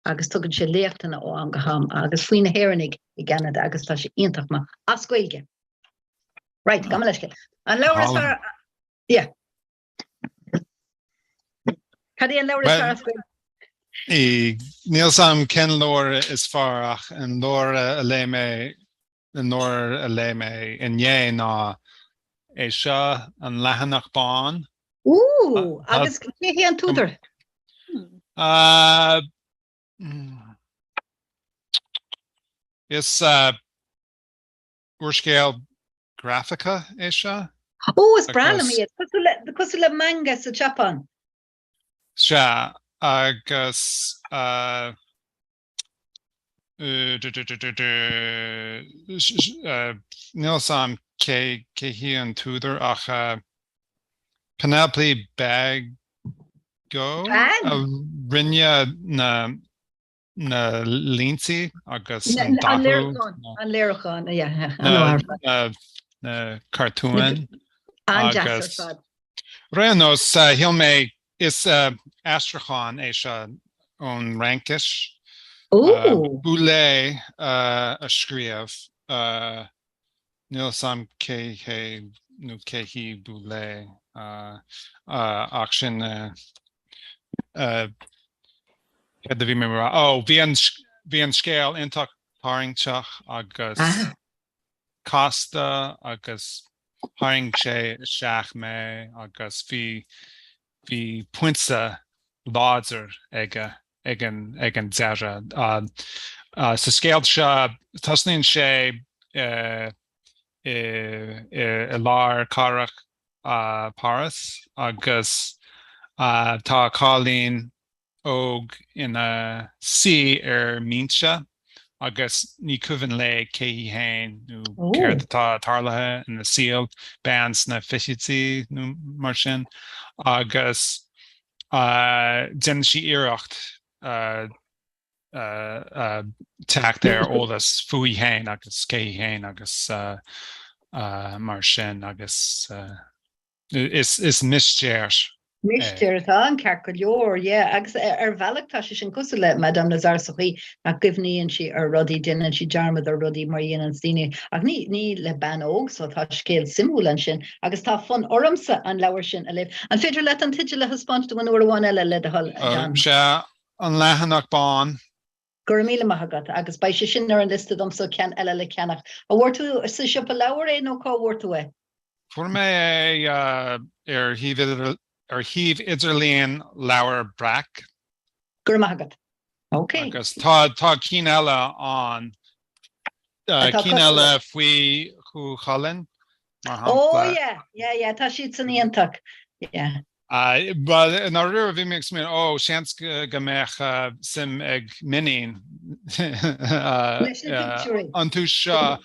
agus tugann sé léachtanna ó am go ham agus faoi na hÉireannaigh i gCeanada agus tá sé iontach maith as Gaeilge. Right, gabh mo leithscéal. An leabhar is fearr... Yeah. Cad é an leabhar is fearr as Gaeilge? Níl 's a'm cén leabhar is fearr ach an leabhar a léigh mé nuair a léigh mé inné ná é seo an leathanach bán. Ooh! Agus cé hé an t-údar? Is úrscéal grafaiceach é seo. Ooh, is breá liom iad. Cosúil le manga sa tSeapáin. Sea, agus Níl 's a'm cé cé hí an t-údar ach Pénélope Bagieu a rinne na na línte agus an dathú. An léiriúchán an léiriúchán, yeah. Na cartúin. An-deas ar fad. Ar aon nós shíl mé Is aistriúchán é seo ón Fhraincis. Boulet a scríobh. Níl 'fhios a'm cé hé nó cé hí Boulet ach sin céard a bhí mé a' rá, ó bhí an scéal iontach tarraingteach agus casta agus tharraing sé isteach mé agus bhí bhí puins láidir aige ag an ag an deireadh. Sa scéal seo tosnaíonn sé i lár cathrach Páras agus tá cailín óg ina suí ar bhinse agus ní cuimhin léi cé hí féin nó céard atá tarlaithe ina saol, bean sna fichidí nó mar sin, agus déanann sí iarracht teacht ar eolas fúithi féin agus cé hí féin agus mar sin agus. Is mistéir é. Mistéir atá ann ceart go leor, yeah, agus ar bhealach tá sé sin cosúil le Madame Lazare sa chaoi nach gcuimhníonn sí ar rudaí, déanann sí dearmad ar rudaí mar a dhéanann daoine ach ní, ní le bean óg so tá scéal suimiúil ansin agus tá fonn ormsa an leabhar sin a léamh. An féidir leat an teideal a thaispeáint dom aon uair amháin eile le do thoil, a John? Sea, An Leathanach Bán. Go raibh míle maith agat, agus beidh sé sin ar an liosta domsa ceann eile le ceannach. An bhfuair tú sa siopa leabhar é nó cá bhfuair tú é? Fuair mé é ar shuíomh ar shuíomh idirlíon Leabhar Breac. Go raibh maith agat. Ok. Agus tá tá cinn eile ann. Cinn eile faoi Chú Chulainn, mar shampla. Ó, yeah, yeah, yeah, tá siad san iontach, yeah. Bhuel, i ndáiríre bhí mé ag smaoineamh, ó, seans go mbeadh suim ag m'iníon iontu seo,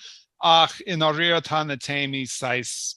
ach i ndáiríre tá na téamaí saghas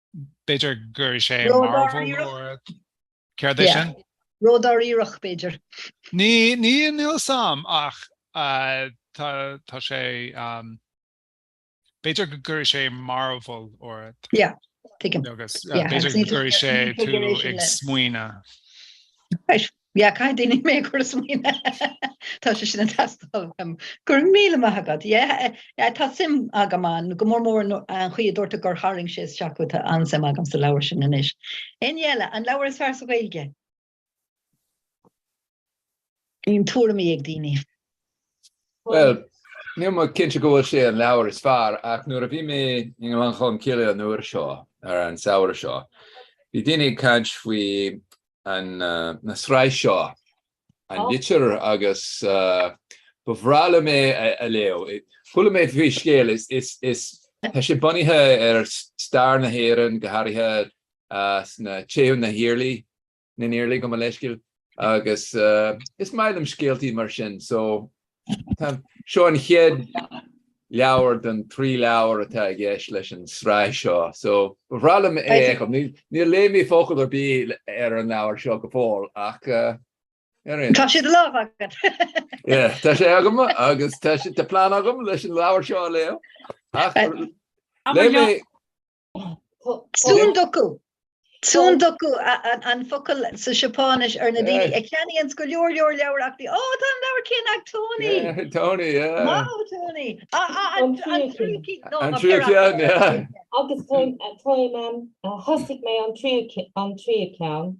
B'fhéidir go gcuirfidh sé mearbhall air. Céard é sin? Ró dáiríreach, b'fhéidir. Ní, ní, níl 's am ach tá, tá sé, b'fhéidir go gcuirfidh sé mearbhall air. Yeah, tuigim. Agus b'fhéidir go gcuirfidh sé tú ag smaoineadh. Yeah, caithfidh daoine mé a chur ag smaoineamh. Tá sé sin ag teastáil uaim. Go raibh míle maith agat. Yeah, eh, yeah, tá suim agam ann, go mór mór nó- an chaoi a dúirt tú gur tharraing sé isteach thú, tá an-suim agam sa leabhar sin anois. Éinne eile, an leabhar is fearr sa Ghaeilge? Bíonn tuairimí ag daoine. Bhuel, níl mé cinnte go bhfuil sé an leabhar is fearr, ach nuair a bhí mé i nGleann Cholm Cille an uair seo, ar an samhradh seo, bhí daoine ag caint faoi an tsraith seo an litir agus ba bhreá liom é a léamh. Chuala mé faoi scéal, is tá sé bunaithe ar stair na hÉireann, go háirithe sna Teitheadh na hIarlaí, na nIarlaí gabh mo leithscéal, agus is maith liom scéaltaí mar sin, so Seo an chéad leabhar den trí leabhar atá i gceist leis an sraith seo, so ba bhreá liom é a fheiceáil. Níor léigh mé focal ar bith ar an leabhar seo go fóill ach ar aon nós. Tá sé ar láimh agat. Yeah, tá sé agam agus tá plean agam leis an leabhar seo a léamh. Ach léigh mé Tsundoku. Tsundoku an focal sa Seapáinis ar na daoine a ceannaíonn go leor leor leabhar ach bhí, ó, tá an leabhar céanna ag Tony! Tony, yeah. Maith Tony! An tríú An tríú ceann, yeah. Agus thosaigh mé an tríú ceann.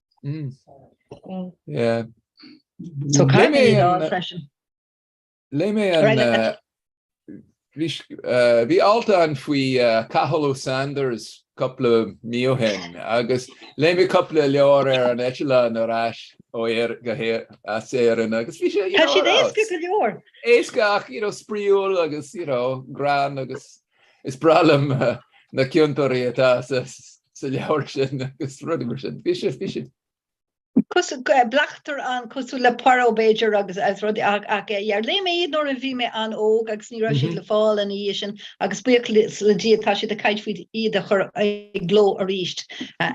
Léigh mé an bhí alt ann faoi Cathal Ó Sándair cúpla mí ó shin agus léigh mé cúpla leabhar ar an eitleán ar ais ó Éirinn agus bhí sé éasca go leor, éasca ach spraíúil agus greann agus is breá liom na ciontóirí atá sa leabhar sin agus rudaí mar sin. Bhí sé, bhí sé. bleachtaire an-cosúil le Poirot b'fhéidir agus rudaí ach yeah, léigh mé iad nuair a bhí mé an-óg agus ní raibh siad le fáil ina dhiaidh sin agus buíoch le Dia tá siad ag caint faoi iad a chur i gcló arís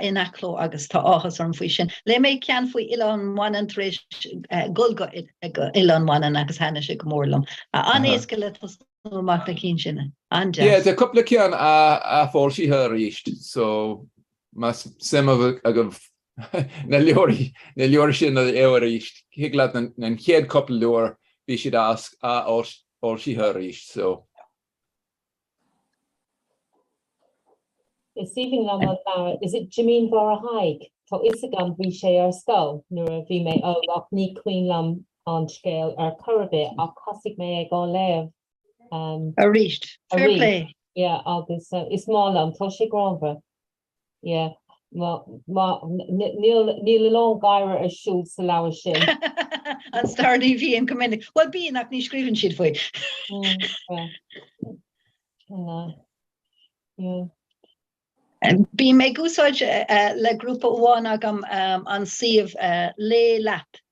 in athchló agus tá áthas orm faoi sin. Léigh mé ceann faoi Oileán Mhanann tar éis dhul go Oileán Mhanann agus thaitnigh sé go mór liom. An-éasca le tosnú. amach, na cinn sin, an-deas. Yeah, tá cúpla ceann athfhoilsithe arís, so más suim agaibh na leabhair sin a fháil arís, thig leat an chéad chúpla leabhar, bhí siad athfhoilsithe arís, so. Is aoibhinn liom an fear, is it Jimín Mháire Thaidhg? Tá fhios agam bhí sé ar scoil nuair a bhí mé óg ach ní cuimhin liom an scéal ar chor ar bith ach thosaigh mé ag á léamh arís fair play. yeah agus is maith liom, tá sé greannmhar yeah má má níl níl a lán gáire ar siúl sa leabhar sin. an stair ní bhíonn go minic, bhuel bíonn ach ní scríobhann siad faoi. Bím ag úsáid le grúpa amháin agam an suíomh Léigh Leat.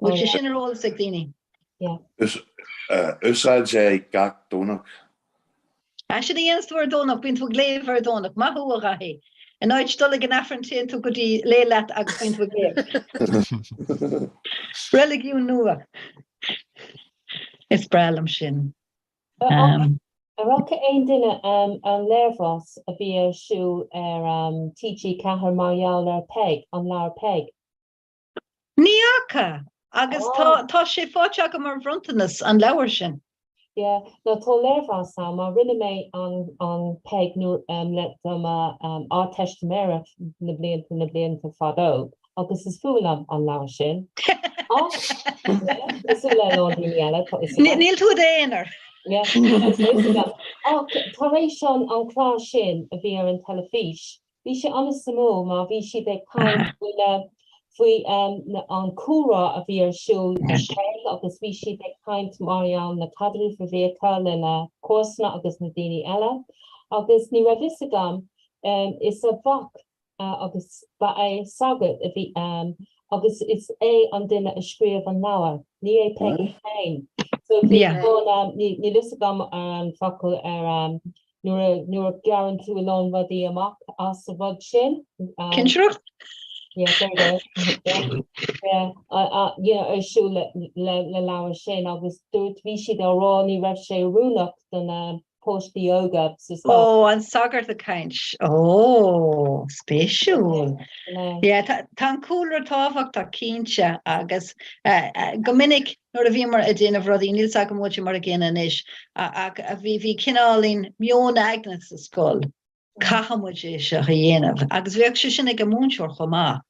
Bhfuil sé sin ar eolas ag daoine? Úsáid é gach Domhnach. Sea, sin a dhéanas tú ar Dhomhnach, bíonn tú ag léamh ar Dhomhnach. Maith thú, a Dhaithí. In áit dul ag an Aifreann téann tú go dtí Léigh Leat agus bíonn tú ag léamh. Reiligiún nua. Is breá liom sin. Ar fhaca aon duine an léirmheas a bhí ar siúl ar TG4 mar gheall ar Peig, an leabhar Peig? Ní fhaca, agus tá sé faighte agam mar bhronntanas, an leabhar sin. Yeah, nó tá léirmheas ann, mar rinne mé an Peig nuair, le, do mo Ardteistiméireacht na blianta, na blianta fadó. agus is fuath liom an leabhar sin. Ach, cosúil le a lán daoine eile, tá fhios agam. Níl tú i d'aonar. Yeah, agus tá fhios agam. Ach, tar éis an an clár sin a bhí ar an teilifís, bhí sé an-suimiúil mar bhí siad ag caint faoi na faoi um, na- an cúlra a bhí ar siúl i Kerry agus bhí siad ag caint mar gheall ar na caidreamh a bhí acu le na comharsana agus na daoine eile. Agus ní raibh fhios agam um, is a mhac agus ba é sagart a bhí ann agus is é an duine a scríobh an leabhar, ní é Peig féin. So bhí ann, níl fhios agam ar an focal ar nuair a gearrann tú a lán rudaí amach as a rud sin. Cinsireacht? Yeah, there you go. Yeah, you know, ar siúl le leabhar sin agus dúirt, bhí siad á rá ní raibh sé oiriúnach don post the yoga sa spa. Ó an sagart ag caint. Ó, spéisiúil. Yeah, tá an cúlra tábhachtach cinnte agus go minic nuair a bhíomar ag déanamh rudaí, níl 's agam muide mar a gcéanna anois, ach bhí cineálín meon aigne sa scoil. Caithfidh muid é seo a dhéanamh. Agus bheadh sé sin ag an múinteoir chomh maith.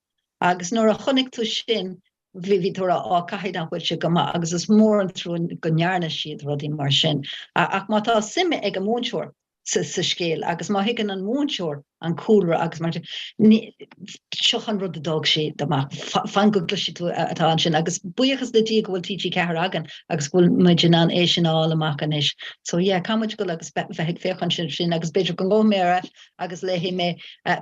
Agus nuair a chonaic tú sin, bhí tú a rá, á, caithfidh nach bhfuil sé go maith. Agus is mór an trua go ndearna siad rudaí mar sin. Ach má tá suim ag an múinteoir sa scéal agus má thuigeann an múinteoir an cúlra agus mar sin, seo an rud a d'fhág siad amach. Fan go gcloisfidh tú atá ansin. Agus buíochas le Dia go bhfuil TG4 againn. agus go bhfuil muid in ann é sin a fháil amach anois. So yeah, caithfidh muid a dhul agus bheith ag féachaint air sin agus b'fhéidir go ngabhfaidh mé ar ais agus léifidh mé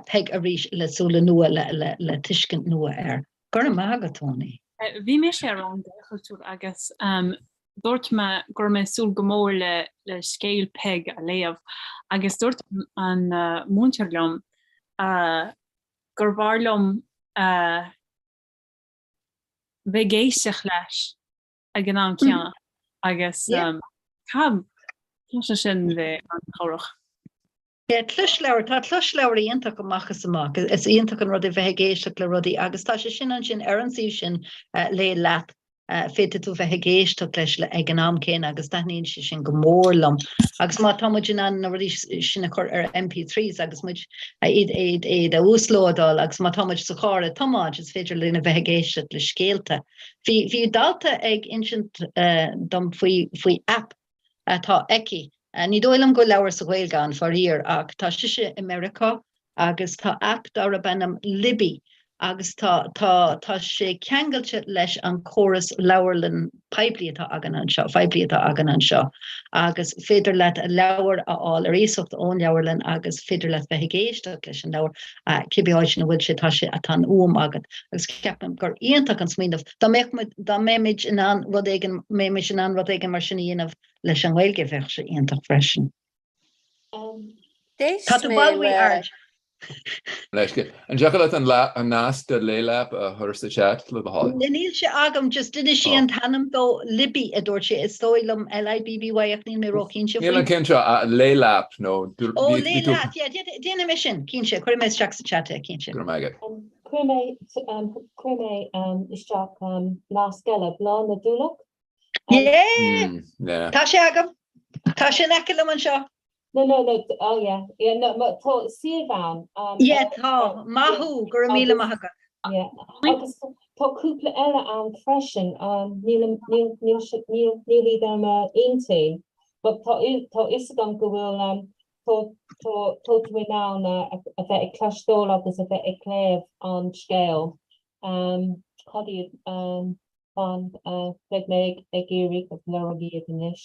Peig arís le súile nua le tuiscint nua air. Go raibh maith agat, Tony. Bhí mise ar an Gaelchultúr agus dúirt mé go raibh mé ag súil go mór le scéal Peig a léamh agus dúirt an múinteoir liom gurbh fhearr liom bheith ag éisteacht leis ag an am céanna agus cad tá sé sin bheith an-chabhrach? Tá closleabhair, tá closleabhair iontach amach is amach. Is iontach an rud é bheith ag éisteacht le rudaí agus tá sé sin ansin ar an suíomh sin Léigh Leat, féadfaidh tú bheith ag éisteacht leis ag an am céanna agus taitníonn sé sin go mór liom. Agus má tá muid in ann na rudaí sin a chur ar MP3s agus muid a uaslódáil agus má tá muid sa charr ag tiomáint is féidir linn a bheith ag éisteacht le scéalta. Bhí bhí dalta ag insint dom faoi faoi app atá aici. Ní dóigh liom go leabhar sa Ghaeilge ann faraor ach tá sise i Meiriceá agus tá app darb ainm Libby agus tá tá tá sé ceangailte leis an córas leabharlann poiblí atá againn anseo phoiblí atá againn anseo agus féidir leat a leabhar a fháil ar iasacht ón leabharlann agus féidir leat bheith ag éisteacht leis an leabhar uh, cibé áit ina bhfuil sé tá sé atá an t-am agat agus ceapaim gur iontach an smaoineamh dá mbeadh dá mbeimid in ann rud éigin mbeimid in ann rud éigin mar sin a dhéanamh leis an nGaeilge bheadh sé iontach freisin. Tá tú bail rí aird. Leithscéal. An dtiocfadh leat an nasc do Léigh Leat a chur sa chat le do thoil? Níl sé agam, just d'inis sí an t-ainm dó, Libby a dúirt sé, is dóigh liom L-I-B-B-Y ach níl mé ró-chinnte faoi. Níl an ceann seo a Léigh Leat nó. Ó Léigh Leat, yeah, déanfaidh mé sin, cinnte, cuirfidh mé isteach sa chat é, cinnte. Go raibh maith agat. Chuir mé isteach nasc eile, Bláth na dTulach? Yeah! Tá sé agam! Tá sé in aice liom anseo! No, no, no, oh yeah, yeah, no, ma, tá suíomh ann. Um, Yeah, tá, maith thú, go raibh míle maith agat. Yeah, agus tá cúpla eile ann freisin, um, níl, an- níl, níl, si- níl, níl iad i m'intinn, but tá fhi- tá fhios agam go bhfuil, um, tá, tá, tá tú in ann a, a, a bheith ag cloisteáil agus a bheith ag léamh an scéal. Um, cad iad, um, fan beidh mé ag iarraidh googláil iad anois.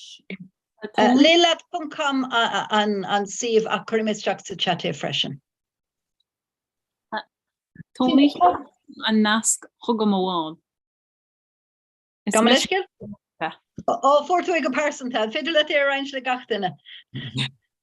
Lilad.com an suíomh ach cuirimid isteach sa chat é freisin. Tháinig an nasc chugam amháin. Gabh mo leithscéal? Ó, fuair tú é go pearsanta. An féidir leat é a roinnt le gach duine?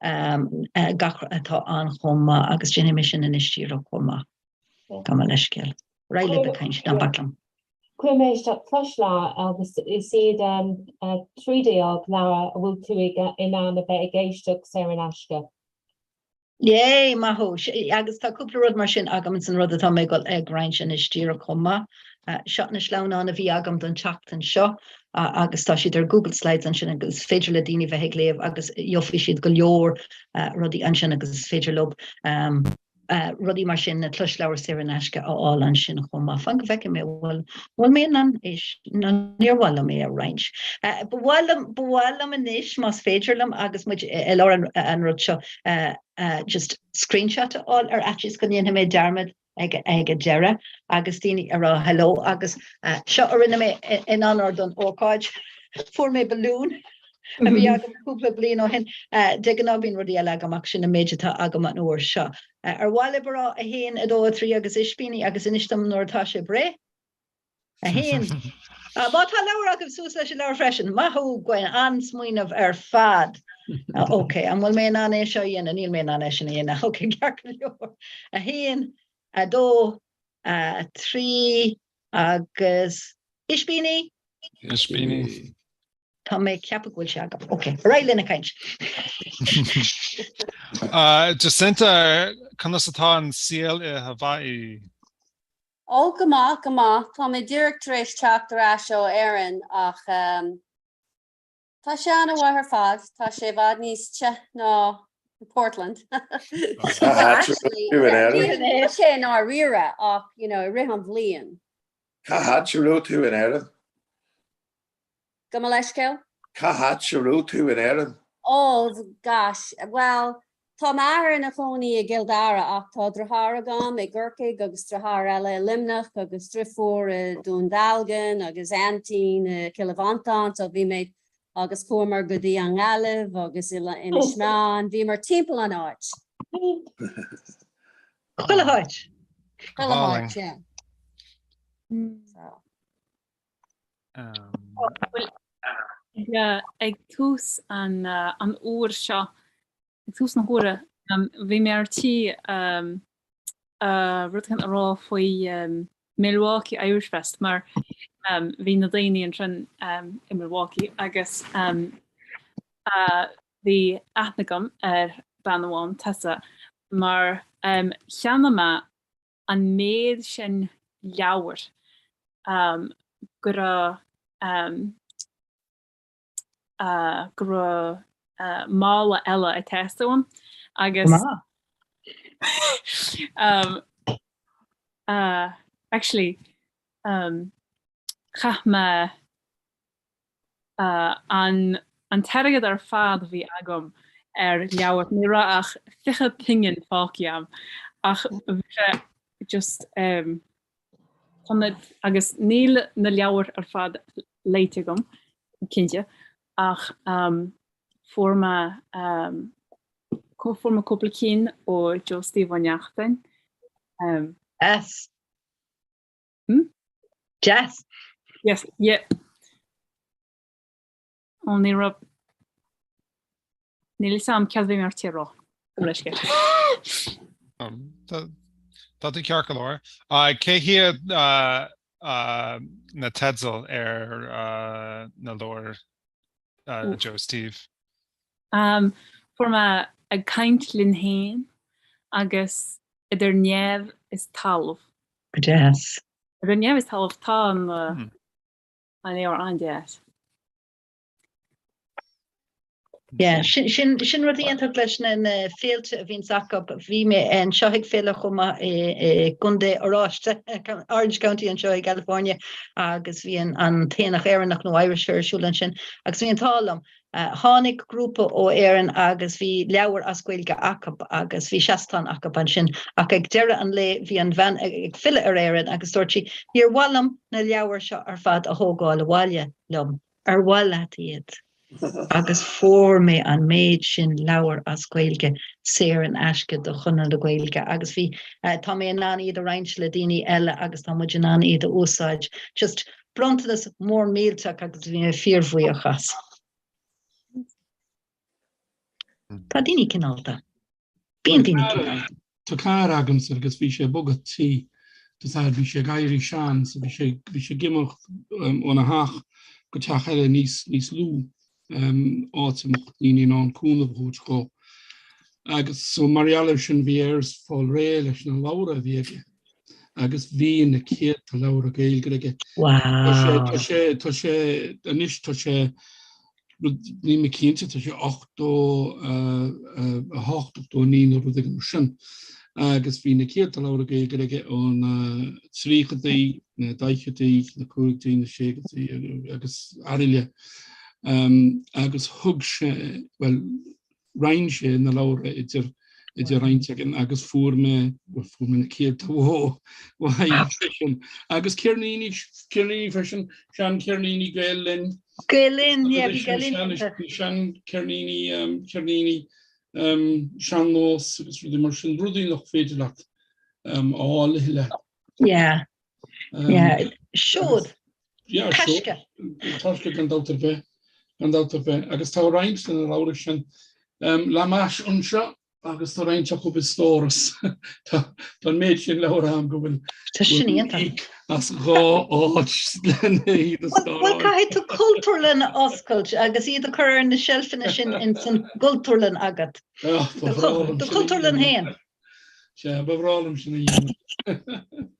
gach rud atá ann chomh maith agus déanfaidh mé sin anois díreach chomh maith. Gabh mo leithscéal. Ar aghaidh libh ag caint, ná bac liom. Chuir mé isteach cois lá agus is iad 13 leabhar a bhfuil tú in ann a bheith ag éisteacht saor in aisce. Yay! Maith thú! Agus tá cúpla rud mar sin agam san rud atá mé ag goil ag roinnt anois díreach chomh maith. Seo na sleamhnáin a bhí agam don tseachtain seo agus tá siad ar Google Slides ansin agus is féidir le daoine bheith ag léamh agus gheobhaidh siad go leor rudaí ansin agus is féidir leo rudaí mar sin na closleabhar saor in aisce a fháil ansin chomh maith. Fan go bhfeicfidh mé bhfuil bhfuil mé in ann níor mhaith liom é a roinnt. Ba mhaith liom ba mhaith liom anois más féidir liom agus muid i lár an rud seo just screenshot a fháil ar fhaitíos go ndéanfaidh mé dearmad ag an deireadh agus daoine a rá hello agus seo a rinne mé in onóir don ócáid. Fuair mé balún a bhí agam cúpla bliain ó shin. De ghnáth bíonn rudaí eile agam ach sin an méid atá agam an uair seo. Ar mhaith libh a rá 1, 2, 3 agus ispíní agus inis dom nuair atá sibh réidh? 1. Má tá leabhar agaibh, suas leis an leabhar freisin. Maith thú, Gwen, an-smaoineamh ar fad. OK, an bhfuil mé in ann é seo a dhéanamh? Níl mé in ann é sin a dhéanamh. OK, ceart go leor. 1, 2, 3 agus ispíní? Ispíní. Tá mé ag ceapadh go bhfuil sé agam. OK, ar aghaidh linn ag caint. Jacinta, conas atá an saol i Haváí? Ó go maith, go maith. Tá mé díreach tar éis teacht ar ais ó Éirinn ach tá sé an-mhaith ar fad. Tá sé i bhfad níos te ná Portland. Níl sé i ndáiríre ach you know i rith an bhliain. Cá háit a raibh tú in Éirinn? Gabh mo leithscéal? Cá háit a raibh tú in Éirinn? Oh, gosh. Bhuel, tá m'athair ina chónaí i gCill Dara ach tá driotháir agam i gCorcaigh agus driotháir eile i Luimneach agus driofúr i nDún Dealgan agus aintín i gCill Mhantáin so bhí mé agus chuamar go dtí an nGaillimh agus Inis Meáin, bhíomar timpeall an áit. Chuile háit? Chuile háit, yeah. So. ag tús an uair seo, ag tús na huaire, bhí mé ar tí rud éicint a rá faoi Milwaukee Irish Fest mar bhí na daoine ansin i Milwaukee agus bhí aithne agam ar bean amháin, Tessa, mar cheannaigh mé an méid sin leabhar go raibh go raibh mála eile ag teastáil uaim agus actually chaith mé An an t-airgead ar fad a bhí agam ar leabhair, ní raibh ach fiche pingin fágtha agam ach bhí sé just ehm chun na, agus níl na leabhair ar fad léite agam cinnte ach ehm fuair mé ehm fuair mé cúpla ceann ó Joe Steve Ó Neachtain ehm. Jess. Hmm? Jess? Yes, yeah. Ó, ní raibh... Níl a fhios agam céard a bhí mé ar tí a rá leis go. Um, tá tú ceart go leor. Cé hiad na teidil ar na leabhair Joe Steve? Um, Fuair mé ag caint linn fhéin agus idir neamh is talamh. Deas. Idir neamh is talamh tá an leabhar an-deas. Yeah, sin rud iontach leis na féilte a bhíonns acu. Bhí mé anseo ag féile chomh maith i gContae Oráiste, Orange County anseo i gCalifornia, agus bhí an t-aonach Éireannach nó Irish Fair ar siúl ansin, agus bhí an t-ádh liom Tháinig grúpa ó Éirinn agus bhí leabhair as Gaeilge acu agus bhí seastán acu ansin ach ag deireadh an lae bhí an bhean ag filleadh ar Éirinn agus dúirt sí, níor mhaith liom na leabhair seo ar fad a thógáil abhaile liom, ar mhaith leat iad? agus fuair mé an méid sin leabhair as Gaeilge saor in aisce do Chonradh na Gaeilge agus bhí, tá mé in ann iad a roinnt le daoine eile agus tá muid in ann iad a úsáid just. Bronntanas mór millteach agus bhí mé fíorbhuíoch as. Tá daoine cineálta. Bíonn daoine cineálta. Tá carr agamsa agus bhí sé ag bogadh tí, tá, mar bhí sé ag éirí sean so bhí sé bhí sé ag imeacht um, óna theach go teach eile níos níos lú. áit a mbeadh daoine in ann cúnamh a thabhairt dhó agus so mar gheall ar sin bhí air fáil réidh leis na leabhra a bhí aige agus bhí na céadta leabhra Gaeilge aige. Tá sé, tá sé, anois tá sé, níl mé cinnte, tá sé 88, 89 nó rud éigin mar sin. agus bhí na céadta leabhra Gaeilge aige ó na tríochaidí, na daichidí, na caogaidí, na seascaidí agus araile. Agus thug sé, bhuel, roinn sé na leabhra idir idir roinnt againn agus fuair mé, bhuel, fuair mé na céadta uaidh freisin. Agus ceirníní, ceirníní freisin, sean ceirníní Gael Linn. Gael Linn, yeah, bhí Gael Linn iontu. Sean ceirníní, ceirníní sean-nós agus rudaí mar sin, rudaí nach féidir leat a fháil i leith. Yeah. Yeah. Siúd. Yeah, Taisce. Taisce gan dabht ar bith. Gan dabht ar bith. Agus tá roinnt de na leabhra sin le m'ais anseo agus tá roinnt acu i stóras. Tá an méid sin leabhar ann go bhfuil... Tá sin iontach. as dhá áit lena iad a stóráil. Bhuel, caithfidh tú cultúrlann a oscailt agus iad a chur ar na seilfeanna sin ins an gcultúrlann agat. Ah, ba bhreá liom sin a dhéanamh. Do chultúrlann féin. Sea, ba bhreá liom sin a dhéanamh.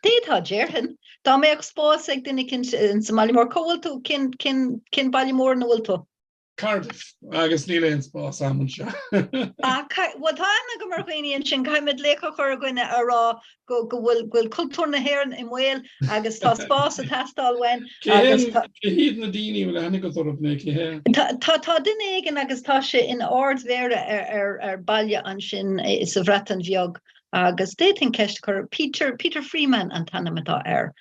D'fhéadfá, déarfainn, dá mbeadh spás ag duine eicínt ins an mbaile mór. Cá bhfuil tú? Cén, cén, cén baile mór ina bhfuil tú? Cardiff agus níl aon spás a'm anseo. Bhuel tá aithne agam ar dhaoine ansin, caithfidh muid leithscéal a chur againn a rá go bhfuil cultúr na hÉireann i mbaol agus tá spás ag teastáil uainn. Cé hiad na daoine a bhfuil a tháinig go Toraip nó cé hé? Tá duine éigin agus tá sé ina Ard-Mhéara ar baile ansin sa Bhreatain Bheag agus d'fhéadfaí an ceist a chur, Peter Freeman an t-ainm atá air.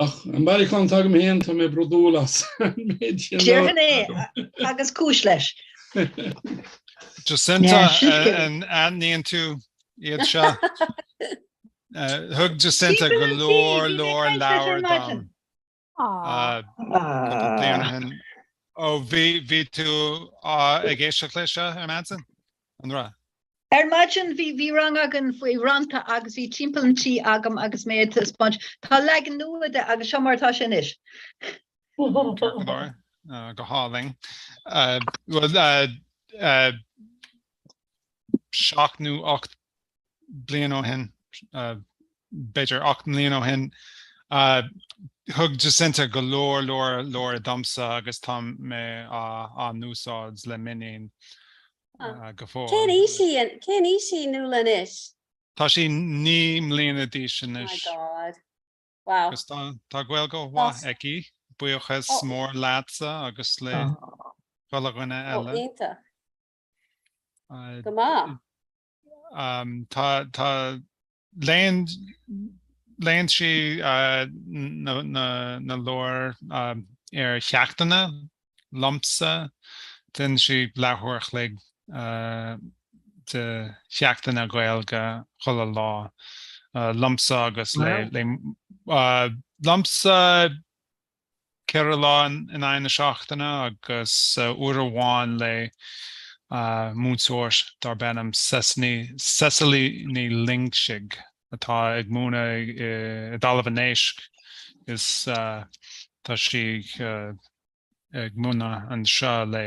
Ach an bailiúchán atá agam féin, tá mé brodúil as an méid sin. Déarfainn é agus cúis leis. Jacinta, an aithníonn tú iad seo. Thug Jacinta go leor leor leabhar dom. Ó bhí tú ag éisteacht leis seo ar maidin? an rath. Ar maidin bhí bhí rang againn faoi rannta agus bhí Timpeall an Tí agam agus mé ag taispeáint tá leagan nua de agus seo mar atá sé anois. go hálainn. bhfuil 7 nó 8 bliain ó shin, b'fhéidir ocht mbliain ó shin, thug Jacinta go leor leor leabhar domsa agus tá mé á n-úsáid le m'iníon go fóill. Cén aois í? Cén aois í Nuala anois? Tá sí naoi mbliana d'aois anois. My God. Wow. Agus tá Gaeilge an-mhaith aici. Buíochas mór leatsa agus le chuile dhuine eile. Ó, iontach. Go maith. Tá léann léann sí na leabhair ar cheachtanna liomsa. Déanann sí leathuair chloig de cheachtanna Gaeilge chuile lá liomsa agus le liomsa ceithre lá in aghaidh na seachtaine agus uair amháin le múinteoir darb ainm Cecily Ní Loingsigh atá ag múineadh i dTalamh an Éisc is tá sí ag múineadh anseo le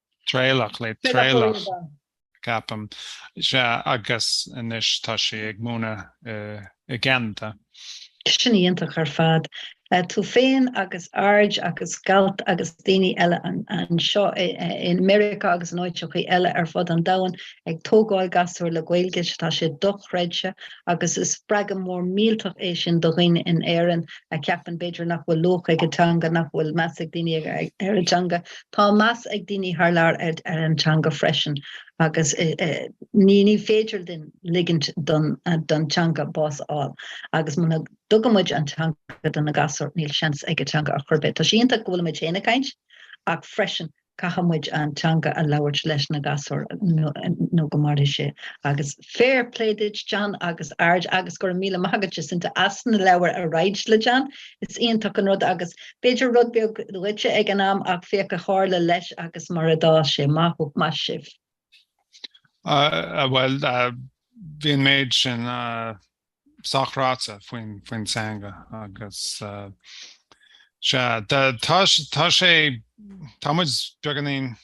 Traolach le Traolach, ceapaim. Sea, agus anois tá sí ag múineadh i gCeanada. Sin iontach ar fad. Tú féin agus Aird agus Galt agus daoine eile anseo i Meiriceá agus in áiteachaí eile ar fud an domhain ag tógáil gasúir le Gaeilge, tá sé dochreidte agus is spreagadh mór millteach é sin do dhaoine in Éirinn a cheapann b'fhéidir nach bhfuil luach ag a dteanga, nach bhfuil meas ag daoine ar a dteanga Tá meas ag daoine thar lear ar an teanga freisin agus ní féidir linn ligint don teanga bás a fháil agus muna dtugann muid an teanga do na gasúir níl seans ag an teanga ar chor ar bith. Tá sé iontach go bhfuil muid féin ag caint ach freisin caithfidh muid an teanga a labhairt leis na gasúir nó go mairfidh sé agus fair play duit John agus aird agus go raibh míle maith agat Jacinta as na leabhair a roinnt le John. Is iontach an rud agus B'fhéidir rud beag dhuitse ag an am ach féach a tharla leis agus mar a d'fhás sé. Maith maith sibh. Ah bhuel bhí an méid sin sách ráite faoin teanga agus sea tá muid beagáinín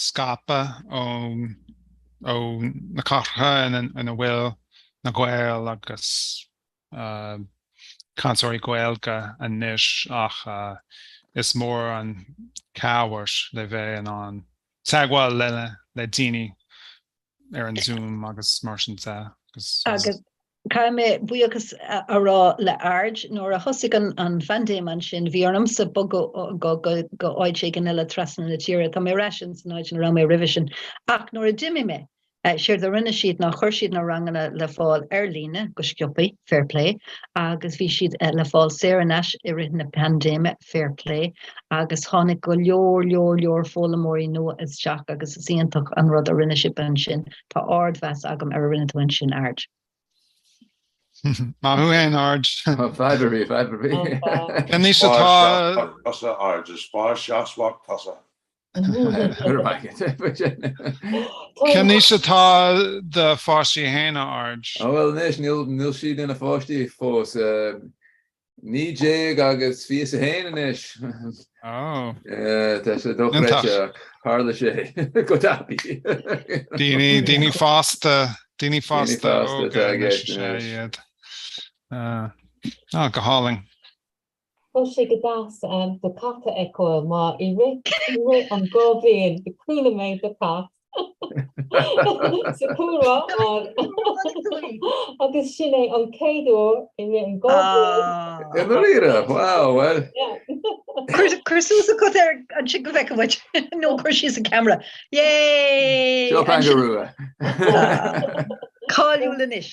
scaipthe ó na cathracha ina bhfuil na Gaeil agus cainteoirí Gaeilge anois ach is mór an chabhair le bheith in ann teagmháil le daoine ar an Zoom agus mar sin de agus agus Caithfidh mé buíochas a rá le Aird, nuair a thosaigh an phaindéim ansin, bhí ormsa bogadh go áit éigin eile trasna na tíre. Tá mé ar ais in san áit ina raibh mé roimhe sin. Ach nuair a d'imigh mé, séard a rinne siad ná chuir siad na ranganna le fáil ar líne, go sciobtha. fair plé, agus bhí siad le fáil saor in aisce i rith na paindéime, fair plé, agus tháinig go leor, leor, leor foghlaimeoirí nua isteach agus is iontach an rud a rinne sibh ansin, tá ardmheas agam ar a rinne tú ansin, Aird. Maith thú fhéin, Aird. Fadhb ar bith. Cén aois atá tusa, Aird, is spás seasmhach tosaigh. Cén aois atá do pháistí féin, Aird? Ó bhuel anois níl siad ina pháistí fós, 19 agus 21 anois. Ó. Tá sé dochreidte ach tharla sé go tapaidh. Daoine fásta, daoine fásta óga anois is ea iad. Go hálainn. Tá sé go deas do chat a fheiceáil mar i rith an dhá bhliain chuala mé do chat sa chúlra agus sin é an chéad uair i rith an dhá bhliain. I ndáiríre! Wow, bhuel. Cuir suas an cat ansin go bhfeicfidh muid nó cuir síos an ceamara. Yay! Seo Pangur Rua. Cáiliúil anois.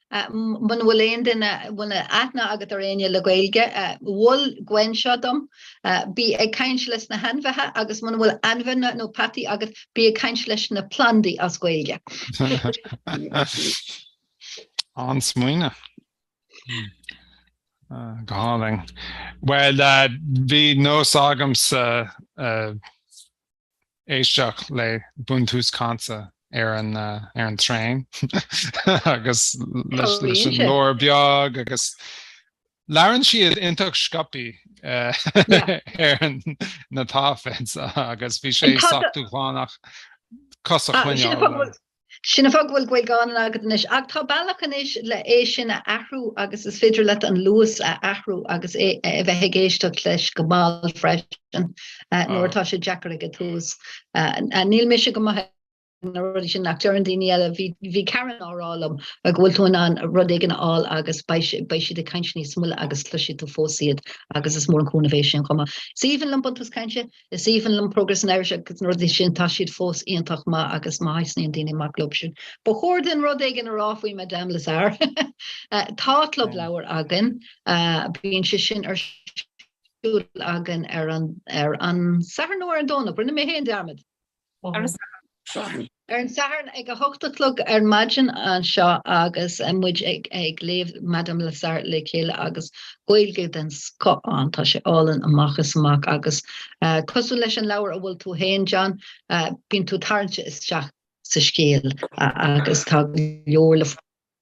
Muna bhfuil aon duine, muna bhfuil aithne agat ar éinne le Gaeilge, mhol Gwen seo dom, bí ag caint leis na hainmhithe agus muna bhfuil ainmhithe nó peataí agat, bí ag caint leis na plandaí as Gaeilge. An-smaoineamh. Go hálainn. Bhuel, bhí nós agamsa. éisteacht le buntús cainte ar an traein agus leis an leabhar beag agus labhrann siad iontach sciobtha ar na téipeanna agus bhí sé sách dúshlánach cos a choinneáil. Sin an fáth go bhfuil Gaeilge álainn agat anois, ach tá bealach anois le é sin a athrú agus is féidir leat an luas a athrú agus a bheith ag éisteacht leis go mall freisin nuair atá sé deacair ag an tús. Níl mise go maith ag na rudaí sin, ach deireann daoine eile, bhí Karen á rá liom go bhfuil tú in ann rud éigin a fháil agus beidh siad ag caint níos moille agus cloisfidh tú fós iad agus is mór an cúnamh é sin chomh maith. Is aoibhinn liom Buntús Cainte. Is aoibhinn liom Progress in Irish agus na rudaí sin, tá siad fós iontach maith agus má thaitníonn daoine maidir le club sin, ba chóir dúinn rud éigin a rá faoi Madame Lazare. tá club leabhar againn, bíonn sé sin ar siúl againn ar an, ar an Satharn nó ar an Domhnach, rinne mé féin dearmad. Ar an Satharn ag a hocht a chlog ar maidin anseo agus muid ag léamh Madame Lazare le chéile agus Gaeilge den scoth ann, tá sé álainn amach is amach agus cosúil leis an leabhar a bhfuil tú féin John, bíonn tú tarraingte isteach sa scéal agus tá go leor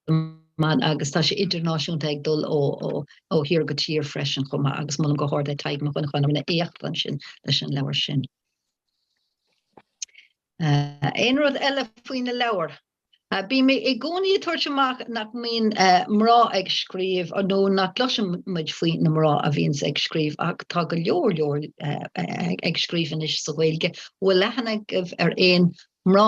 na mban agus tá sé idirnáisiúnta ag dul ó thír go tír freisin chomh maith agus molaim go hard le Tadhg Mac Dhonnagáin a éacht ansin leis an leabhar sin. Aon rud eile faoi na leabhair? Bím i gcónaí ag tabhairt amach nach mbíonn mná ag scríobh nó nach gcloiseann muid faoi na mná a bhíonns ag scríobh ach tá go leor leor ag scríobh anois sa Ghaeilge. Bhfuil léamh agaibh ar aon mná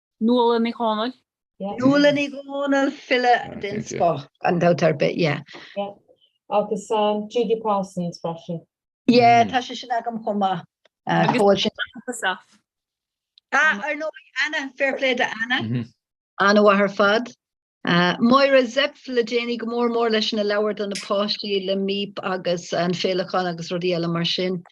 Nuala Ní Dhomhnaill. Nuala Ní Dhomhnaill, file den scoth gan dabht ar bith, yeah. Yeah, agus Judy Parsons freisin. Yeah, tá sé sin agam chomh maith. Ah, ar nó Anna, fair play to Anna. Anna Heussaff ar fad. Máire Zepf le déanaí, go mór mór leis na leabhair do na páistí le Míp agus an Féileacán agus rudaí eile mar sin.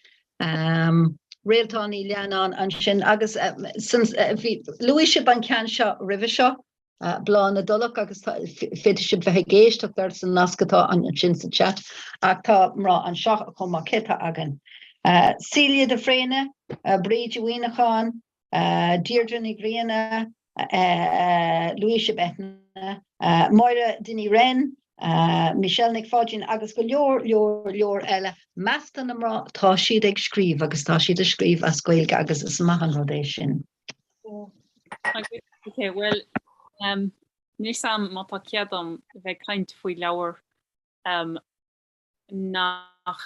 Réaltán Ní Leannáin ansin agus luaigh sibh an ceann seo roimhe seo, Bláth na dTulach agus féadfaidh sibh bheith ag éisteacht air san nasc atá ansin sa chat ach tá mná anseo chomh maith céanna againn. Celia de Fréine, Bríd Uí Mhaoineacháin, Deirdre Ní Ghrianna, Luíse Beithne, Máire Dinny Wren, Michelle Nic Pháidín agus go leor, leor, leor eile. Measc na mná, tá siad ag scríobh agus tá siad ag scríobh as Gaeilge agus is maith an rud é sin. Oké, bhuel, níl a fhios agam má tá cead dom bheith ag caint faoi leabhar nach.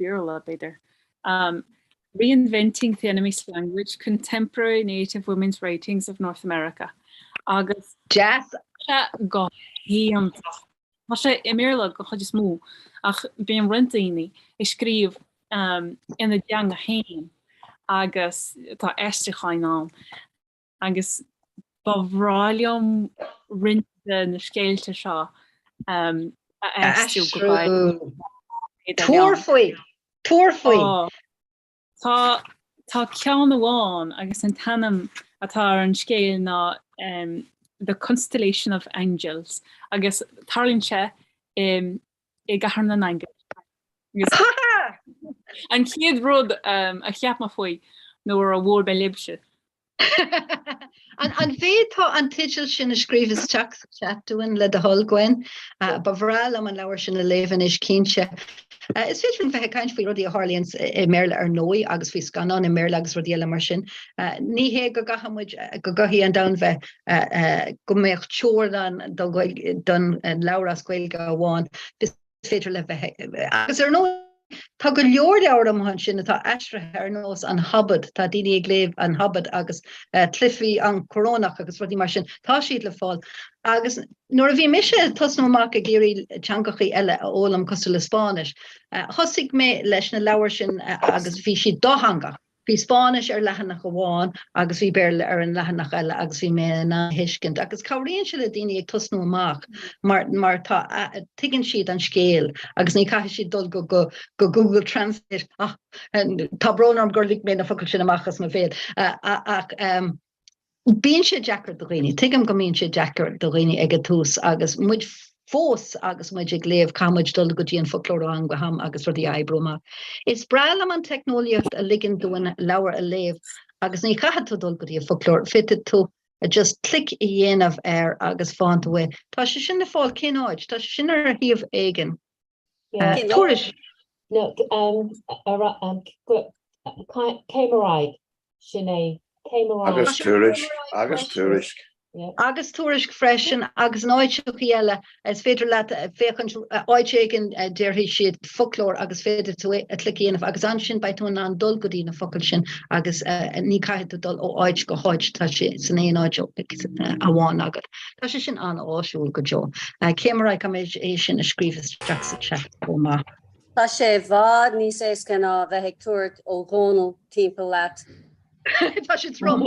Béarla, b'fhéidir. Um, Reinventing the Enemy's Language, Contemporary Native Women's Writings of North America. Agus... Deas! Go hiontach. Tá sé i mBéarla go chuid is mó, ach bíonn roinnt daoine ag scríobh um, ina dteanga féin agus tá aistriúcháin ann. agus ba bhreá liom roinnt de na scéalta seo a aistriú go Gaeilge. Tabhair faoi! Tabhair faoi! Tá ceann amháin agus an t-ainm atá ar an scéal ná The Constellation of Angels agus tarlaíonn sé i i gCathair na nAingeal. Agus an chéad rud a cheap mé faoi nuair a bhuail mé libhse. An bhféadfá an teideal sin a scríobh isteach sa chat dúinn le do thoil, Gwen. Ba bhreá liom an leabhar sin a léamh anois, cinnte. Is féidir linn bheith ag caint faoi rudaí a tharlaíonn i mBéarla ar ndóigh agus faoi scannáin i mBéarla agus rudaí eile mar sin. Ní hé go gcaithfidh muid, go gcaithfidh an domhan bheith go mbeadh teorainn don leabhar as Gaeilge amháin is féidir le bheith agus ar ndóigh tá go leor leabhar amach ansin atá aistrithe ar nós an Hobad, tá daoine ag léamh an Hobad agus Cluiche na Corónach agus rudaí mar sin, tá siad le fáil. Agus nuair a bhí mise ag tosnú amach ag iarraidh teangachaí eile a fhoghlaim cosúil le Spáinnis, thosaigh mé leis na leabhair sin agus bhí siad dátheangach. Bhí Spáinnis ar leathanach amháin agus bhí Béarla ar an leathanach eile agus bhí mé in ann a thuiscint agus cabhraíonn sé le daoine ag tosnú amach mar mar tá tuigeann siad an scéal agus ní caithfidh siad dul go go go Google Translate tá brón orm gur lig mé na focail sin amach as mo bhéal ach Bíonn sé deacair do dhaoine. Tuigim go mbíonn sé deacair do dhaoine ag an tús agus muid fós agus muid ag léamh caithfidh muid dul go dtí an foclóir ó am go ham agus rudaí a oibriú amach. Is breá liom an teicneolaíocht a ligeann dúinn leabhar a léamh agus ní chaithfidh tú dul go dtí an foclóir, féadfaidh tú just clic a dhéanamh air agus faigheann tú é. Tá sé sin le fáil cén áit? Tá sé sin ar shuíomh éigin. Tuairisc. Céim ar Aghaidh sin é. Céim ar Aghaidh. Agus tuairisc. Agus tuairisc. Agus tuairisc freisin agus in áiteachaí eile, is féidir leat féachaint áit éigin a déarfaidh siad foclóir agus féadfaidh tú clic a dhéanamh agus ansin beidh tú in ann dul go dtí na focail sin agus ní caithfidh tú dul ó áit go háit, tá sé san aon áit amháin agat. Tá sé sin an-áisiúil go deo. Céim ar Aghaidh, an bhféadfá é sin a scríobh isteach sa chat chomh maith? Tá sé i bhfad níos éasca ná a bheith ag tabhairt Ó Dhónaill timpeall leat. Tá sé trom.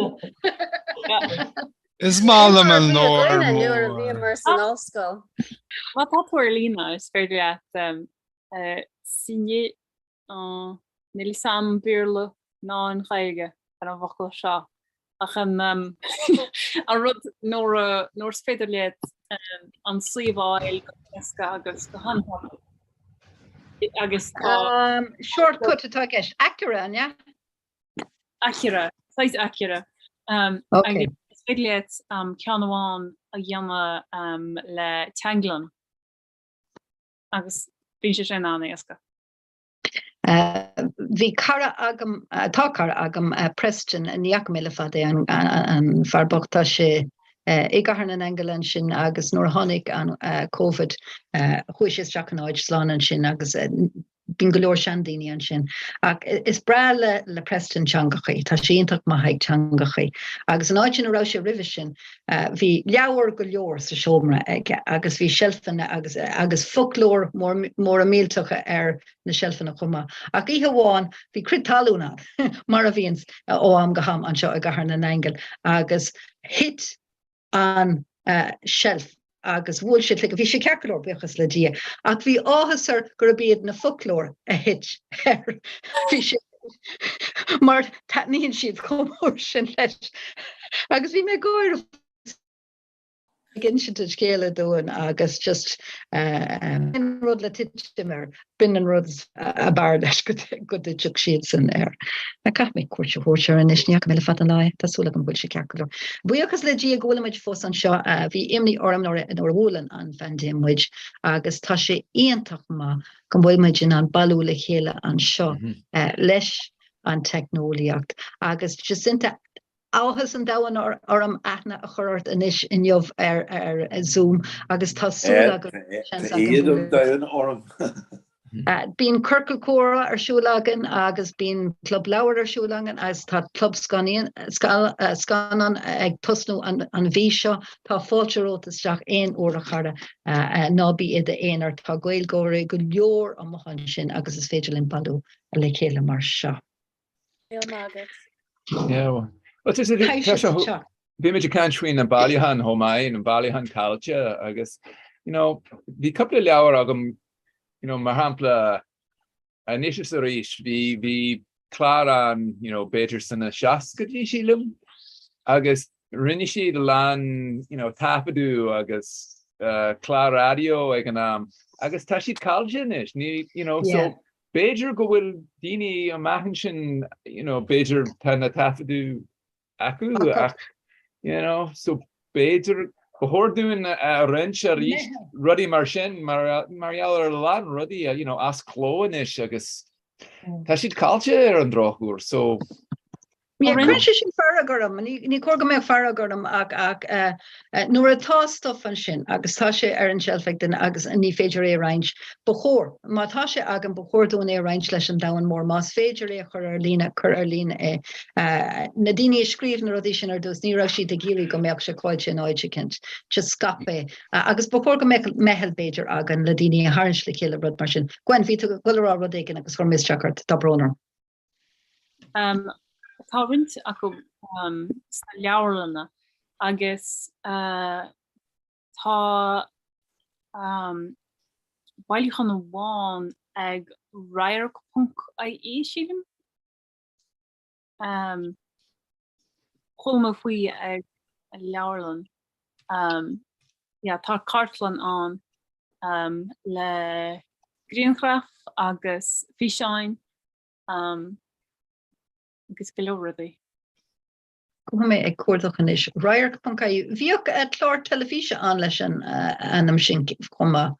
Is maith liom an leabhar mór. Nuair a bhíomar san ollscoil. Má tá tú ar líne is féidir leat signé Aw, níl 'fhios a'm an Béarla ná an Ghaeilge ar an bhfocal seo ach an um, an rud nuair a- nuair is féidir leat um, an suíomh a fháil go héasca agus go han-tapa. Agus tá Um, shortcut atá i gceist. Aicearra, an ea? Aicearra, sea aicearra. Um, Okay. agus is féidir leat um, ceann amháin a dhéanamh um, le Teanglann. agus bhí sé sin an-éasca. Bhí cara agam, tá cara agam, Preston, ní fhaca mé le fada é an fear bocht, tá sé i gcathair na nAingeal ansin agus nuair a tháinig an Covid chuaigh sé isteach in áit slán ansin agus bíonn go leor seandaoine ansin. Ach is breá le Preston teangachaí, tá sé iontach maith ag teangachaí agus an áit ina raibh sé roimhe sin Bhí leabhair go leor sa seomra aige agus bhí seilfeanna agus agus foclóir móra millteacha ar na seilfeanna chomh maith. Ach oíche amháin bhí crith talún ann mar a bhíonn ó am go ham anseo i gCathair na nAingeal agus thit an uh, seilf agus bhuail sé a chloigeann. Bhí sé ceart go leor buíochas le Dia ach bhí áthas air gurb iad na foclóir a thit air. Bhí sé mar taitníonn siad chomh mór sin leis agus bhí mé ag gáire ag insint an scéil dúinn agus just rud le titim air B'in an rud ab fhearr leis go dtitfeadh siadsan air. Caithfidh mé cuairt a thabhairt air anois, ní fhaca mé le fada an lá é, tá súil agam go bhfuil sé ceart go leor. Buíochas le Dia go bhfuilimid fós anseo, bhí imní orm nuair a bhuail an phaindéim muid agus tá sé iontach maith go bhfuil muid in ann bailiú le chéile anseo leis an teicneolaíocht agus Jacinta, Áthas an domhain orm aithne a chur ort anois inniu ar Zoom agus tá súil agam go mbeidh seans agam bualadh leat. Tá éad an domhain orm. Bíonn Ciorcal Comhrá ar siúl againn agus bíonn Club Leabhar ar siúl againn agus tá Club Scannán ag tosnú an mhí seo. Tá fáilte romhat isteach aon uair a chara. Ná bí i d'aonar, tá Gaeilgeoirí go leor amuigh ansin agus is féidir linn bailiú le chéile mar seo. Go raibh maith agat. Yeah. Well, just, bhí muid ag caint faoi na bailiúcháin chomh maith, na bailiúcháin caillte agus you know, bhí cúpla leabhar agam you know, mar shampla anois is arís bhí bhí clár an you know, b'fhéidir sna 60idí sílim agus rinne siad a lán you know, taifeadú agus uh, clár raidió ag an am agus tá siad caillte anois ní you know, so Yeah. B'fhéidir go bhfuil daoine amach ansin, you know, b'fhéidir tá na taifeadadh acu ach, you know, so b'fhéidir ba chóir dúinn iad a roinnt arís rudaí mar sin mar gheall ar a lán rudaí, you know, as cló anois agus tá siad caillte ar an drochuair so Ní chuireann sé sin fearg orm, ní chóir go mbeadh fearg orm ach nuair atá stuff ansin agus tá sé ar an tseilf ag duine agus ní féidir é a roinnt, ba chóir, má tá sé againn, ba chóir dúinn é a roinnt leis an domhan mór. Más féidir é a chur ar líne, cuir ar líne é. Na daoine a scríobh na rudaí sin ar dtús, ní raibh siad ag iarraidh go mbeadh sé caillte in áit eicínt. Just scaip é. Agus ba chóir go mbeadh meitheal, b'fhéidir, againn le daoine a tharraingt le chéile, rud mar sin. Go on, bhí tú ag goil a rá rud éigin agus chuir mé isteach ort. Tá brón orm. Um, tá roinnt acu um, sna leabharlanna agus uh, tá um, bailiúchán amháin ag radharc.ie sílim. Um, Chomh maith faoi ag leabharlann um, yeah, tá cartlann ann um, le grianghraf agus físeáin um, agus go leor rudaí. Gabhfaidh mé ag cuardach anois radharc.ie. Bhíodh eh, clár teilifíse ann leis an eh, ainm sin chomh maith.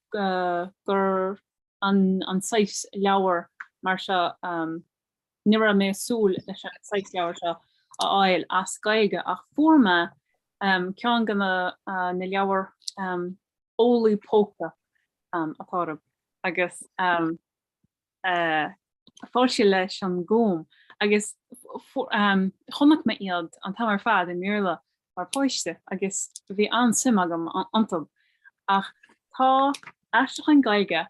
gur an saghas leabhar mar seo, ní raibh mé ag súil leis an saghas leabhair seo a fháil as Gaeilge ach fuair mé ceann de na leabhair eolaí póca atá ar agus fáil leis an nGúm agus chonaic mé iad an t-am ar fad i mBéarla mar páiste agus bhí an-suim agam iontu. Ach tá aistriúchán Gaeilge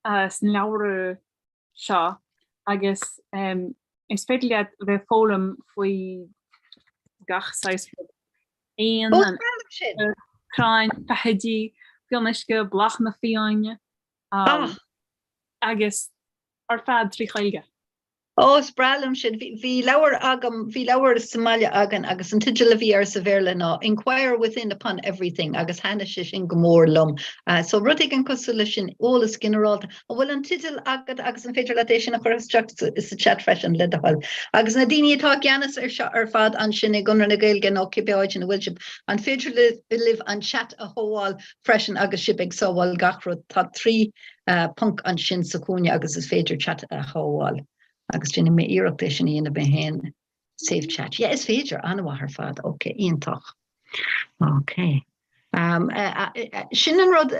sna leabhra seo agus is féidir leat a bheith ag foghlaim faoi gach saghas ruda, éan, crainn, feithidí, fionnuisce, bláthanna fiáine, Ach, agus ar fad trí Chaeilge. Ó, is breá liom sin. Bhí, bhí leabhar agam, bhí leabhar sa mbaile againn agus an teideal a bhí air sa Bhéarla ná Inquire Within Upon Everything agus thaitnigh sé sin go mór liom. Uh, so rud éigin cosúil leis sin, eolas ginearálta. An bhfuil an teideal agat agus an féidir leat é sin a chur isteach sa, sa chat freisin le do thoil. Agus na daoine atá i gceannas ar seo ar fad ansin i gConradh na Gaeilge nó cibé áit ina bhfuil sibh, an féidir libh an chat a shábháil freisin agus sibh ag sábháil gach rud, tá trí phonc ansin sa chúinne agus is féidir chat a shábháil agus déanfaidh mé iarracht é sin a dhéanamh mé féin, save chat, yeah is féidir, an-mhaith ar fad, ok, iontach, ok. Sin an rud,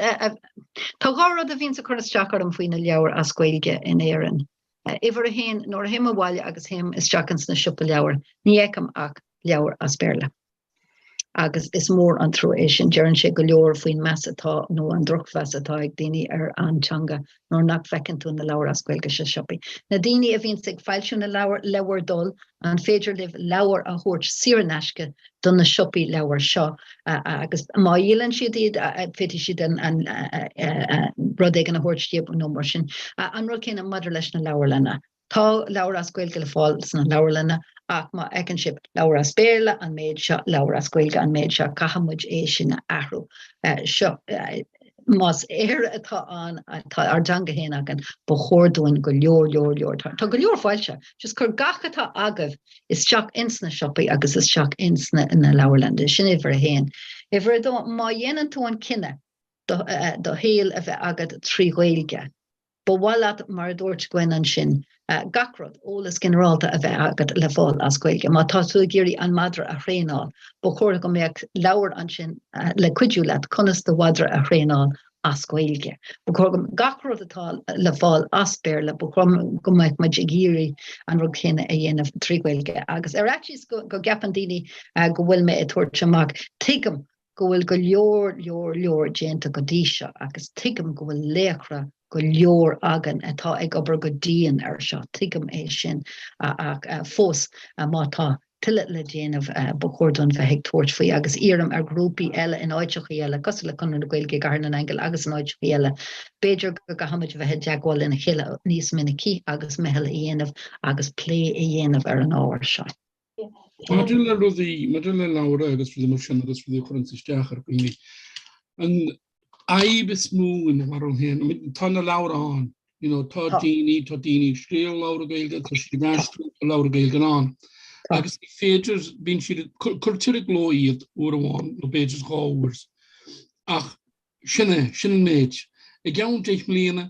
tá dhá rud a bhíonns ag cur isteach orm faoi na leabhair as Gaeilge in Éirinn, uimhir a haon, nuair a théim abhaile agus théim isteach ins na siopaí leabhar ní fheicim ach leabhair as Béarla. agus is mór an trua é sin. Deireann sé go leor faoin meas atá nó an drochmheas atá ag daoine ar an teanga nuair nach bhfeiceann tú na leabhair as Gaeilge sa siopaí. Na daoine a bhíonns ag foilsiú na leabhar, le bhur dtoil, an féidir libh leabhair a thabhairt saor in aisce do na siopaí leabhar seo agus má dhíolann siad iad féadfaidh siad rud éigin a thabhairt daoibh nó mar sin. An rud céanna maidir leis na leabharlanna. Tá leabhair as Gaeilge le fáil sna leabharlanna ach má fheiceann sibh leabhar as Béarla, an méid seo, leabhar as Gaeilge, an méid seo, caithfidh muid é sin a athrú. Seo, más Éire atá ann, tá ár dteanga féin againn, ba chóir dúinn go leor, leor, leor, tá go leor foilsithe, just cur gach atá agaibh isteach ins na siopaí agus isteach ins na leabharlanna. Sin uimhir a haon. Uimhir a dó, má dhéanann tú an cinneadh do shaol a bheith agat trí Ghaeilge, Ba mhaith leat, mar a dúirt Gwen ansin, gach rud, eolas ginearálta a bheith agat le fáil as Gaeilge. Má tá tú ag iarraidh an madra a thraenáil, ba chóir go mbeadh leabhar ansin le cuidiú leat conas do mhadra a thraenáil as Gaeilge. Ba chóir gach rud atá le fáil as Béarla, ba chóir go mbeadh muid ag iarraidh an rud céanna a dhéanamh trí Ghaeilge. Agus ar fhaitíos go gceapann daoine go bhfuil mé ag tabhairt amach, tuigim go bhfuil go leor, leor, leor déanta go dtí seo agus tuigim go bhfuil laochra go leor againn atá ag obair go dian air seo, tuigim é sin, ach fós má tá tuilleadh le déanamh ba chóir dúinn bheith ag tabhairt faoi agus iarraim ar ghrúpaí eile in áiteachaí eile cosúil le Conradh na Gaeilge i gCathair na nAingeal agus in áiteachaí eile, b'fhéidir go gcaithfimid a bheith i dteagmháil lena chéile níos minicí agus meitheal a dhéanamh agus plé a dhéanamh ar an ábhar seo. Maidir le rudaí maidir le leabhra agus rudaí mar sin agus rudaí a chuireann isteach ar dhaoine. An fhadhb is mó i mo bharúil féin, tá na leabhar ann, you know, tá daoine tá daoine ag scríobh leabhra Gaeilge tá an-chuid leabhra Gaeilge ann. agus ní féidir bíonn siad cuirtear i gcló iad uair amháin nó b'fhéidir dhá uair. Ach sin é, sin an méid. I gceann deich mbliana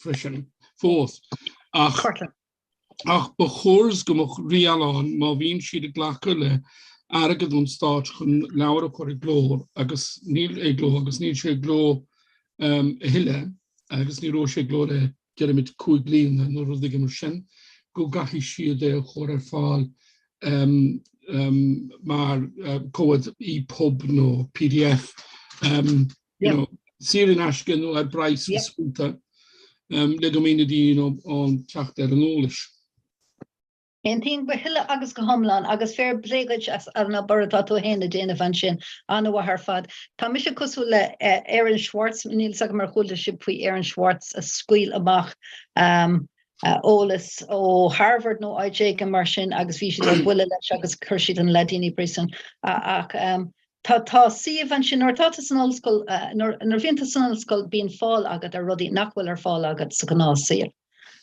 freisin fós ach ach ba chóir go mbeadh riail ann má bhíonn siad ag glacadh le airgead ón stát chun leabhar a chur i gcló agus níl sé i gcló agus níl sé i gcló um, a thuilleadh agus ní raibh sé i gcló le deirimid cúig bliana nó rud éigin mar sin go gcaithfidh siad é a chur ar fáil um, um, mar uh, comhad EPUB nó PDF um, you know, saor in aisce nó ar bhealach ar bith le go mbeidh na daoine in ann teacht ar an eolas. Aontaím go huile agus go hiomlán agus fair plé dhuit as an obair atá tú fhéin a déanamh ansin, an-mhaith ar fad. Tá mise cosúil le Aaron Swartz, níl fhios agam ar chuala sibh faoi Aaron Swartz a scaoil amach eolas ó Harvard nó áit éigin mar sin agus bhí siad ar buile leis agus chuir siad an leaidín i bpríosún ach Tá, tá suíomh ansin, nuair atá tú san ollscoil, nuair, nuair a bhíonn tú san ollscoil bíonn fáil agat ar rudaí nach bhfuil ar fáil agat sa ghnáthsaol.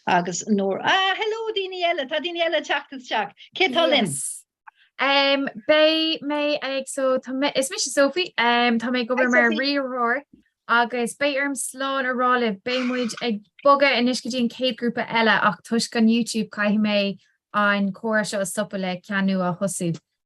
Agus nuair, ah, hello daoine eile, tá daoine eile ag teacht isteach. Cé atá linn? Yes. Um, Beidh mé ag so tá mé- is mise Sophie, um, tá mé go Hi, bhfuil mar Sophie. riarthóir agus beidh orm slán a rá libh beidh muid ag bogadh anois go dtí an chéad ghrúpa eile ach toisc an YouTube caithfidh mé an comhrá seo a stopadh le ceann nua a thosú.